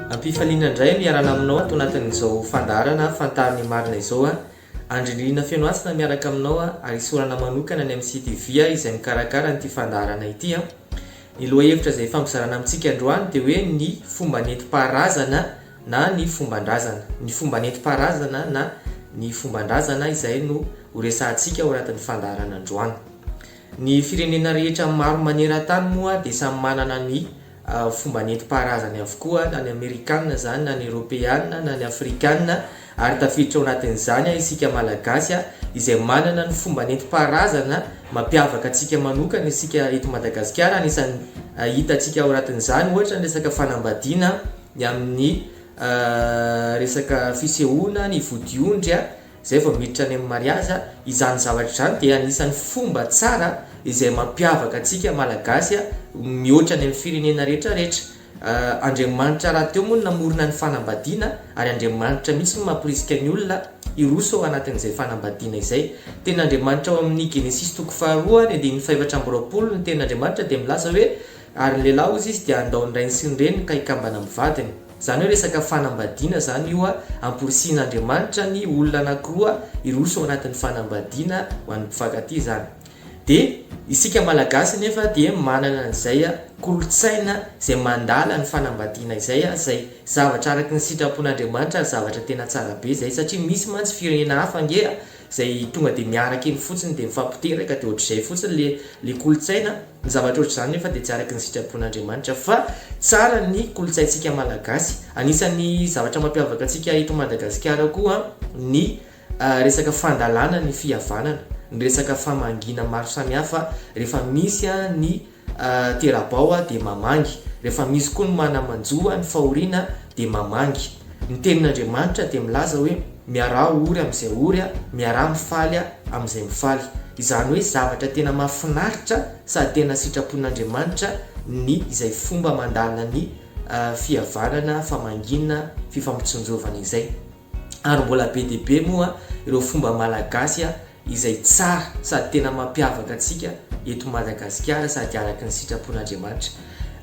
Ampifaliana indray ny iarana aminao ato anatin'izao fandaharana Fantaro ny marina izao a! Andrinirina feno hasina miaraka aminao a! ary isaorana manokana ny amin'ny CTV a! izay mikarakara an'ity fandaharana ity a! Ny lohahevitra izay ifampizarana amintsika androany dia hoe ny fomba nentim-paharazana na ny fomban-drazana. Ny fomba nentim-paharazana na ny fomban-drazana izay no ho resahantsika ao anatin'ny fandaharana androany. Ny firenena rehetra maro maneran-tany moa dia samy manana ny fomba nentim-paharazany avokoa, na ny Amerikana izany, na ny Eoropeana, na ny Afrikana, ary tafiditra ao anatin'izany isika Malagasy, izay manana ny fomba nentim-paharazana mampiavaka antsika manokana isika eto Madagasikara, anisan'ny hitantsika ao anatin'izany ohatra ny resaka fanambadiana, ny amin'ny resaka fisehoana, ny vodiondry a. Izay vao miditra any amin'ny mariazy, izany zavatra izany dia anisan'ny fomba tsara izay mampiavaka antsika Malagasy mihoatra any amin'ny firenena rehetra rehetra. Andriamanitra rahateo moa no namorona ny fanambadiana ary Andriamanitra mihitsy no mamporisika ny olona hiroso ao anatin'izay fanambadiana izay. Teny Andriamanitra ao amin'ny Genesisy toko faharoa ny andininy fahefatra amby roapolo ny teny Andriamanitra dia milaza hoe ary ny lehilahy hozy izy dia handao ny rainy sy ny reniny ka hikambana amin'ny vadiny. Izany hoe resaka fanambadiana izany io a, ampirisihin'Andriamanitra ny olona anakiroa hiroso ao anatin'ny fanambadiana ho an'ny mpifankatia izany. Dia isika Malagasy anefa dia manana an'izay kolontsaina izay mandala ny fanambadiana izay a, izay zavatra araky ny sitrapon'Andriamanitra ary zavatra tena tsara be izay satria misy mantsy firenena hafa ange a, Izay tonga dia miaraka eny fotsiny dia mifampiteraka dia ohatr'izay fotsiny le le kolontsaina, ny zavatra ohatr'izany nefa dia tsy araka ny sitrapon'Andriamanitra fa tsara ny kolontsaintsika malagasy, anisan'ny zavatra mampiavaka antsika eto Madagasikara koa ny resaka fandalana ny fihavanana, ny resaka famangiana maro samihafa rehefa misy ny Tera-bao aho dia mamangy. Rehefa misy koa ny mana-manjo ho an'ny fahoriana dia mamangy. Ny tenin'Andriamanitra dia milaza hoe, Miaraha ory amin'izay ory aho, miaraha mifaly aho amin'izay mifaly. Izany hoe zavatra tena mahafinaritra sady tena sitrapon'Andriamanitra ny izay fomba mandala ny fihavanana, famangiana, fifampitsinjovana izay. Ary mbola be dia be moa ireo fomba malagasy izay tsara sady tena mampiavaka antsika eto Madagasikara sady araky ny sitrapon'Andriamanitra.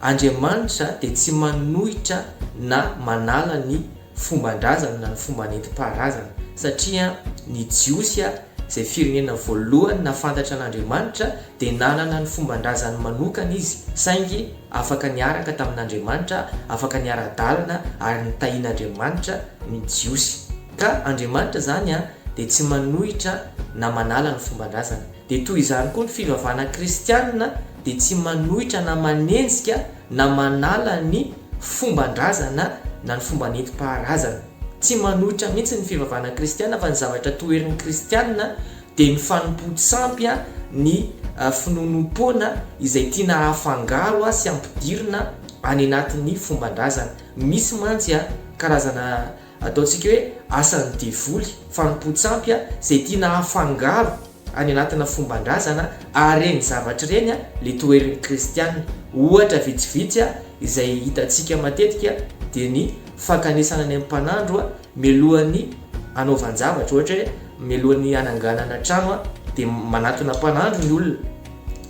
Andriamanitra dia tsy manohitra na manala ny fomban-drazany na ny fomba nentim-paharazana satria ny Jiosy izay firenena voalohany nafantatra an'Andriamanitra dia nanana ny fomban-drazany manokana izy saingy afaka niaraka tamin'Andriamanitra, afaka niara-dalana ary nitahian'Andriamanitra ny Jiosy. Ka Andriamanitra izany dia tsy manohitra na manala ny fomban-drazana. Dia toy izany koa ny fivavahana kristianina dia tsy manohitra na manenjika na manala ny fomban-drazana na ny fomba nentim-paharazana. Tsy manohitra mihitsy ny fivavahana kristianina fa ny zavatra toherin'ny kristianina dia ny fanompoan-tsampy, ny finoanoam-poana izay tiana hafangaro sy hampidirina any anatin'ny fomban-drazana. Misy mantsy karazana. Ataontsika hoe asan'ny devoly, fanompoan-tsampy izay tiana hafangaro any anatina fomban-drazana ary ireny zavatra ireny ilay toherin'ny kristiana. Ohatra vitsivitsy izay hitantsika matetika dia ny fankanesana any amin'ny mpanandro mialohan'ny hanaovan-javatra, ohatra hoe mialohan'ny hananganana trano dia manatona mpanandro ny olona.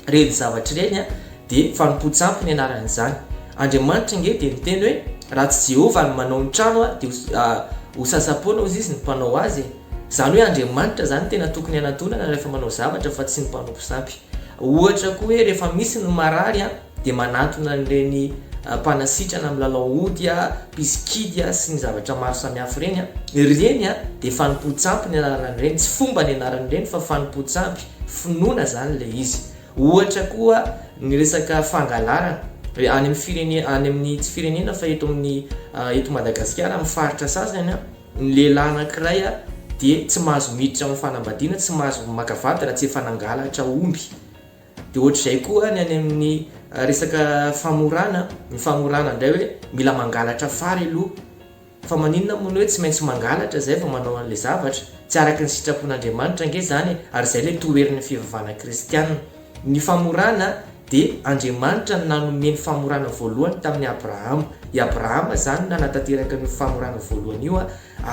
Ireny zavatra ireny. dia fanompoan-tsampy ny anaran'izany. Andriamanitra ange dia niteny hoe, Raha tsy Jehovah no manao ny trano dia ho sasa-poana hozy izy ny mpanao azy e. Izany hoe Andriamanitra izany no tena tokony hanatonana rehefa manao zavatra fa tsy ny mpanompo sampy. Ohatra koa hoe rehefa misy ny marary dia manatona an'ireny mpanasitrana milalao ody, mpisy kidy sy ny zavatra maro samihafa ireny. Ireny dia fanompoan-tsampy ny anaran'ireny, tsy fomba ny anaran'ireny fa fanompoan-tsampy, finoana izany ilay izy. Ohatra koa ny resaka fangalarana, any amin'ny firenena, any amin'ny tsy firenena fa eto amin'ny eto Madagasikara amin'ny faritra sasany, ny lehilahy anankiray dia tsy mahazo miditra amin'ny fanambadiana, tsy mahazo maka vady raha tsy efa nangalatra omby. Dia ohatr'izay koa ny any amin'ny resaka famorana, ny famorana indray hoe mila mangalatra fary aloha. Fa maninona moa no hoe tsy maintsy mangalatra izay vao manao an'ilay zavatra? Tsy araka ny sitrapon'Andriamanitra ange izany e, ary izay ilay toherin'ny fivavahana kristiana. Ny famorana dia Andriamanitra no nanome ny famorana voalohany tamin'i Abrahama. I Abrahama izany no nanatanteraka an'io famorana voalohany io,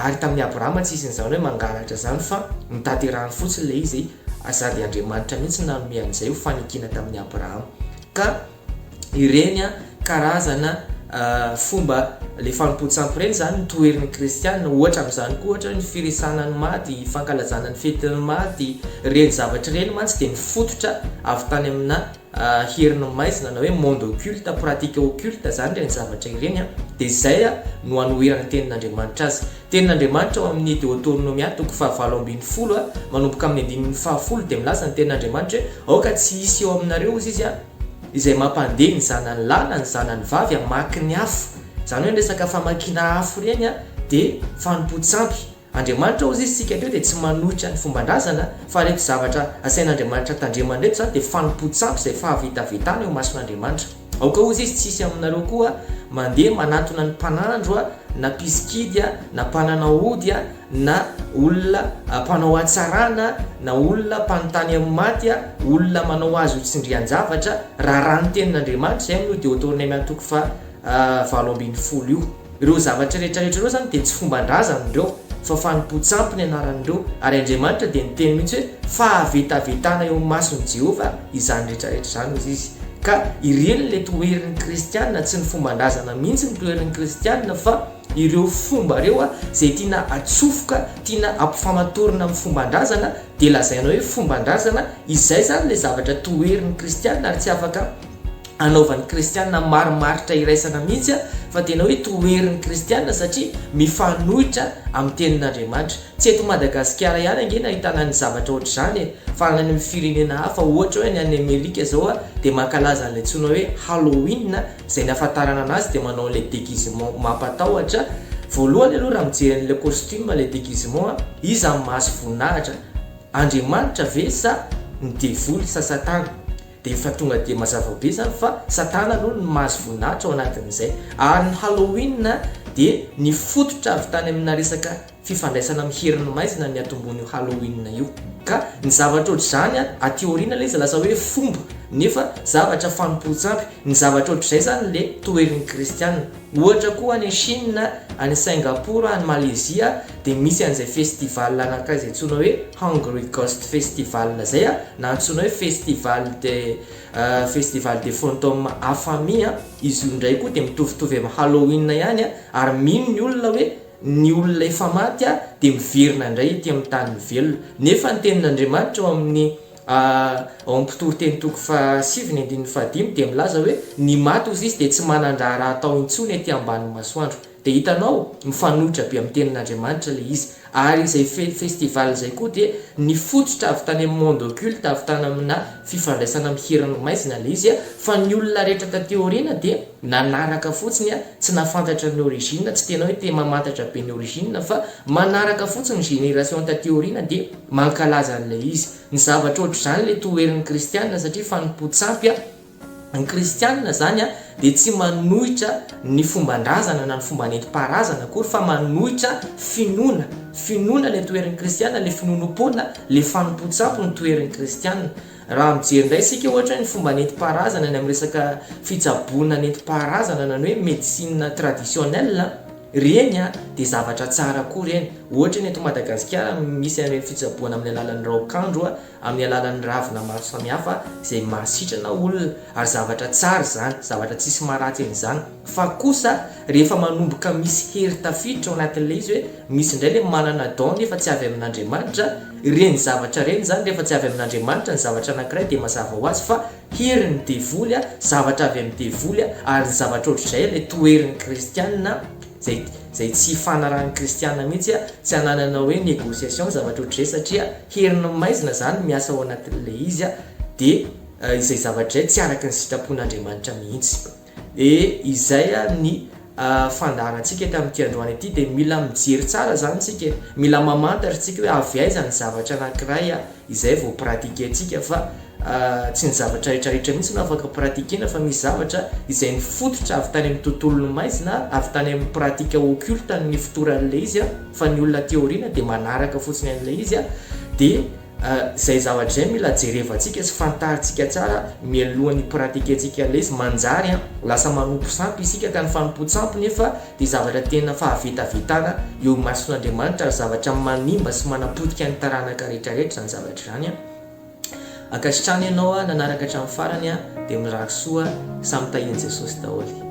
ary tamin'i Abrahama tsy hisian'izany hoe mangalatra izany fa notanterahany fotsiny ilay izy, sady Andriamanitra mihitsy no nanome an'izay ho fanekiana tamin'i Abrahama. Ka. ireny karazana fomba le fanompoan-tsampy ireny zany ny toherin'ny kristiana ohatra amin'izany koa ohatra hoe ny firesana ny maty, ny fankalazana ny fetin'ny maty, ireny zavatra ireny mantsy dia nifototra avy tany amina herin'ny maizina na hoe monde occulte, pratique occulte zany ireny zavatra ireny dia izay no hanoheran'ny tenin'Andriamanitra azy. Tenin'Andriamanitra ao amin'ny Deoteronomia toko fahavalo ambin'ny folo a, manomboka amin'ny andininy fahafolo, dia milaza ny Tenin'Andriamanitra hoe, Aoka tsy hisy eo aminareo, hozy Izy a, izay mampandeha ny zanany lahy na ny zanany vavy hamaky ny afo. Izany hoe ny resaka famakiana afo ireny a, dia fanompoan-tsampy. Andriamanitra, hozy Izy, isika teo dia tsy manohitra ny fomban-drazana, fa ireto zavatra asain'Andriamanitra tandremana ireto izany dia fanompoan-tsampy izay fahavetavetana eo imason'Andriamanitra. Aoka ozy izy tsy hisy aminareo koa mandeha manatona ny mpanandro a, na mpisikidy a, na mpanana ody a, na olona mpanao hatsarana, na olona mpanontany amin'ny maty a, olona manao azy ho tsindrian-javatra, raharaha ny tenin'Andriamanitra, izay moa no Deotorneme antoko faha valo ambin'ny folo io. Ireo zavatra rehetra rehetra ireo izany dia tsy fomban-drazany ireo fa fanompoan-tsampy ny anaran'ireo, ary Andriamanitra dia niteny mihitsy hoe fahavetavetana eo amin'ny mason'i Jehovah izany rehetra rehetra izany, hoy izy. Ka ireny ilay toherin'ny kristiana, tsy ny fomban-drazana mihitsy no toherin'ny kristiana fa ireo fomba ireo izay tiana atsofoka, tiana ampifamatorina amin'ny fomban-drazana dia lazaina hoe fomban-drazana, izay izany ilay zavatra toherin'ny kristiana ary tsy afaka anaovan'ny kristiana marimaritra iraisana mihitsy fa tena hoe toherin'ny kristiana satria mifanohitra amin'ny tenin'Andriamanitra. Tsy eto Madagasikara ihany ange no ahitana ny zavatra ohatr'izany e! Fa any amin'ny firenena hafa ohatra hoe any any Amerika izao dia mankalaza an'ilay antsoina hoe Halloween, izay ny ahafantarana anazy dia manao an'ilay déguisement mampatahotra. Voalohany aloha raha mijery an'ilay costume ilay déguisement, iza no mahazo voninahitra? Andriamanitra ve sa ny devoly sa Satana? Dia efa tonga dia mazava be izany fa Satana aloha no mahazo voninahitra ao anatin'izay. Ary ny Halloween dia nifototra avy tany amina resaka fifandraisana amin'ny herin'ny maizina ny atombon'io Halloween io. Ka ny zavatra ohatr'izany aty aoriana ilay izy lasa hoe fomba, nefa zavatra fanompoan-tsampy. Ny zavatra ohatr'izay izany ilay toherin'ny kristiana. Ohatra koa any Chine, any Singapour, any Malaysia dia misy an'izay festival anankiray izay antsoina hoe Hungry Ghost Festival izay na antsoina hoe Festival de Festival des Fantômes Affamés an, izy io indray koa dia mitovitovy amin'ny Halloween ihany ary mino ny olona hoe ny olona efa maty dia miverina indray ety amin'ny tany ny velona nefa ny tenin'Andriamanitra ao amin'ny A Ao amin'ny mpitoriteny toko fahasivy ny andininy fahadimy dia milaza hoe ny maty hozy izy dia tsy manan-draharaha atao intsony ety ambanin'ny masoandro. Dia hitanao, mifanohitra be amin'ny tenin'Andriamanitra ilay izy. Ary izay fe festival izay koa dia nifototra avy tany amin'ny monde occulte, avy tany aminà fifandraisana amin'ny herin'ny maizina ilay izy, fa ny olona rehetra taty aoriana dia nanaraka fotsiny, tsy nahafantatra ny origine, tsy tena hoe te mamantatra be ny origine, fa manaraka fotsiny ny génération taty aoriana dia. Mankalaza an'ilay izy. Ny zavatra ohatr'izany ilay toherin'ny kristiana satria fanompoan-tsampy ny kristiana izany dia tsy manohitra ny fomban-drazana na ny fomba nentim-paharazana akory fa manohitra finoana. Finoana ilay toherin'ny kristiana, ilay finoanoam-poana, ilay fanompoan-tsampy no toherin'ny kristiana. Raha mijery indray isika ohatra hoe ny fomba nentim-paharazana ny amin'ny resaka fitsaboana nentim-paharazana na ny hoe médecine traditionnelle, ireny dia zavatra tsara koa ireny. Ohatra ny eto Madagasikara misy an'ireny fitsaboana amin'ny alalan'ny raokandro amin'ny alalan'ny ravina maro samihafa izay mahasitrana olona ary zavatra tsara izany, zavatra tsisy maharatsy an'izany. Fa kosa rehefa manomboka misy hery tafiditra ao anatin'ilay izy hoe misy indray ilay manana don nefa tsy avy amin'Andriamanitra, ireny zavatra ireny izany rehefa tsy avy amin'Andriamanitra ny zavatra anankiray dia mazava ho azy fa herin'ny devoly, zavatra avy amin'ny devoly, ary ny zavatra ohatr'izay ilay toherin'ny kristiana izay izay tsy ifanarahan'ny kristiana mihitsy, tsy ananana hoe negociation zavatra ohatr'izay satria herin'ny maizina izany miasa ao anatin'ilay izy dia izay zavatra izay tsy araka ny sitrapon'Andriamanitra mihitsy. Dia izay ary ny fandaharantsika eto amin'ity androany ity dia mila mijery tsara izany isika e, mila mamantatra isika hoe avy aiza ny zavatra anankiray izay vao pratiquer-ntsika fa tsy ny zavatra rehetra rehetra mihintsy no afaka pratiquer-na fa misy zavatra izay nifototra avy tany amin'ny tontolon'ny maizina, avy tany amin'ny pratique occulte ny fotoran'ilay izy fa ny olona aty aoriana dia manaraka fotsiny an'ilay izy dia. Izay zavatra izay mila jerevantsika sy fantarintsika tsara mialoha ny hi-pratiquer-ntsika an'ilay izy. Manjary lasa manompo sampy isika ka ny fanompoan-tsampy nefa dia zavatra tena fahavetavetana eo imason'Andriamanitra ary zavatra manimba sy manapotika ny taranaka rehetrarehetra izany zavatra izany. Ankasitrano ianao nanaraka hatramin'ny farany dia mirary soa samy tahian'i Jesosy daholo.